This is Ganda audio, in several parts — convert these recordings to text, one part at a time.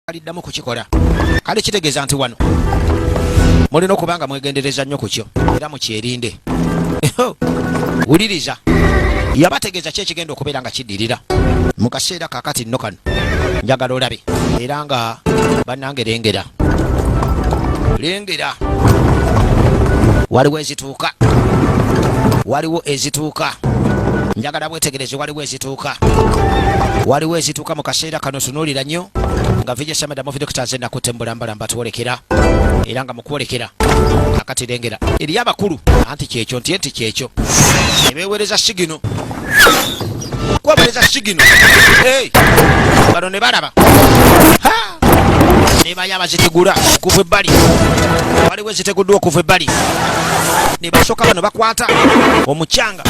aliddamu kukikola kale kitegeeza nti wano mulina okuba nga mwegendereza nnyo ku kyo era mukyerinde wuliriza yabategeeza ki ekigenda okubeera nga kiddirira mu kaseera kakati nno kano njagala olabe era nga bannange lengera lengera waliwo ezitu ezituuka waliwo ezituuka njagala bwetegereze waliwo ezituuka waliwo ezituuka mu kaseera kano sunuulira nnyo nga vija sameda mu vidokita nze nakutte mbulambala mbatwolekera era nga mukwolekera akatirengera eriyo abakulu anti kyekyo nti enti kyekyo ebeewereza sigino kubabaleza sigino bano ne balaba nebayo abazitegula okuva ebbali waliwo eziteguddwa okuva ebbali ne basooka bano bakwata omucanga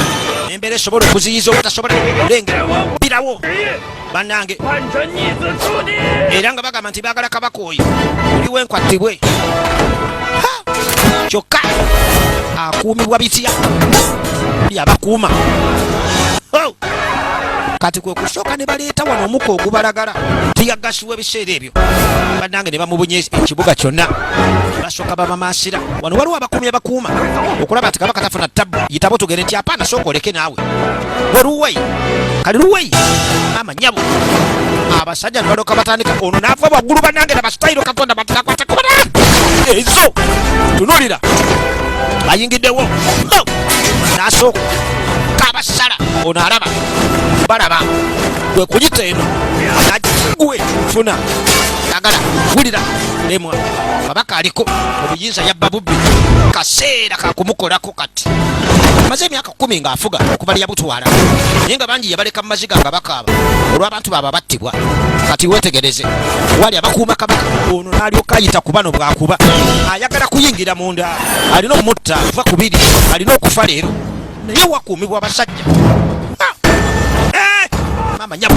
embeera esobola okuziyiza obutasobola kulengera birawo banange era nga bagamba nti bagala kabako oyo oli wenkwa tibwe kyokka akuumibwa bitya buli abakuuma oh! kati kwe kusooka ne baleeta wano omuka ogubalagala tiyagasiwa ebiseera ebyo banange ne bamubunya ekibuga kyonna basooka babamaasira wano waliwo abakuumi abakuuma okulaba nti kabaka tafuna ttabu yitabo tugende nti apaana sooka oleke naawe weruwei kali luwei nyabo abasajja nebaloka batandika ono nava waggulu banange na basitayiro katonda batirakwata kubona ezo tunulira bayingiddewo nasooka kabasala ono alaba balaba gwe kuyita eno agwe funa agala wulira lemwa kabaka aliko obuyinza yabba bubbi kaseera kakumukolako kati maze emyaka kumi ng'afuga okuva leyabutwala naye nga bangi yabaleka mu maziga nga bakaaba olw'abantu baaba battibwa kati wetegereze wali abakuuma kabaka ono n'alyoka ayita ku bano bwakuba ayagala kuyingira munda alina omutta va ku biri alina okufa leero naye wakuumibwa abasajja ah! eh! mama nyabo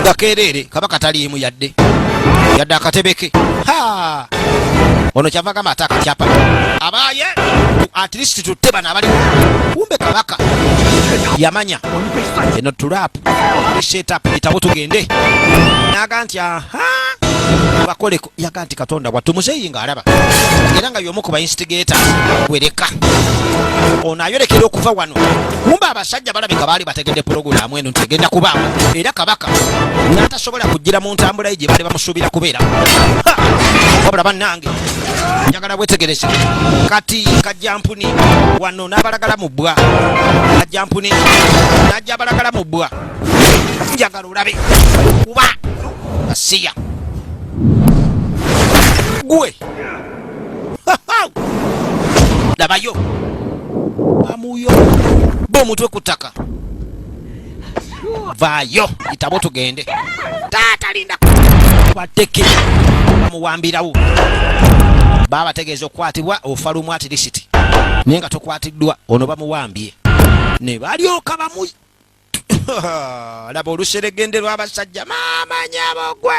nga kereere kabaka taliimu yadde yadde akatebe ke ono kyava gamba ate akatyapa abaaye at least tutte bano abali kumbe kabaka yamanya eno tulap setup bitabo tugende naga nti aha bakoleko yaga nti katonda wattu muzeeyi ng'alaba era nga y'omu ku bainstigator wereka ono ayolekera okuva wano kumba abasajja balabika baali bategedde pulogulaamu eno nti egenda kubaamu era kabaka n'atasobola kujjira mu ntambulaye gye baali bamusuubira kubeera wabula bannange njagala bwetegereze kati kajjampuni wano n'abalagala mu bbwa kajjampuni n'ajja abalagala mu bbwa njagala olabe kuba asiya gwe labayo bamuyo ba omutwe ku ttaka vaayo itabo tugende taata linda bateke bamuwambirawo baabategeeza okukwatibwa ofa lumu atirisiti naye nga tokwatiddwa ono bamuwambye ne balyoka bamu laba oluseregende lw'abasajja maama nyabo gwe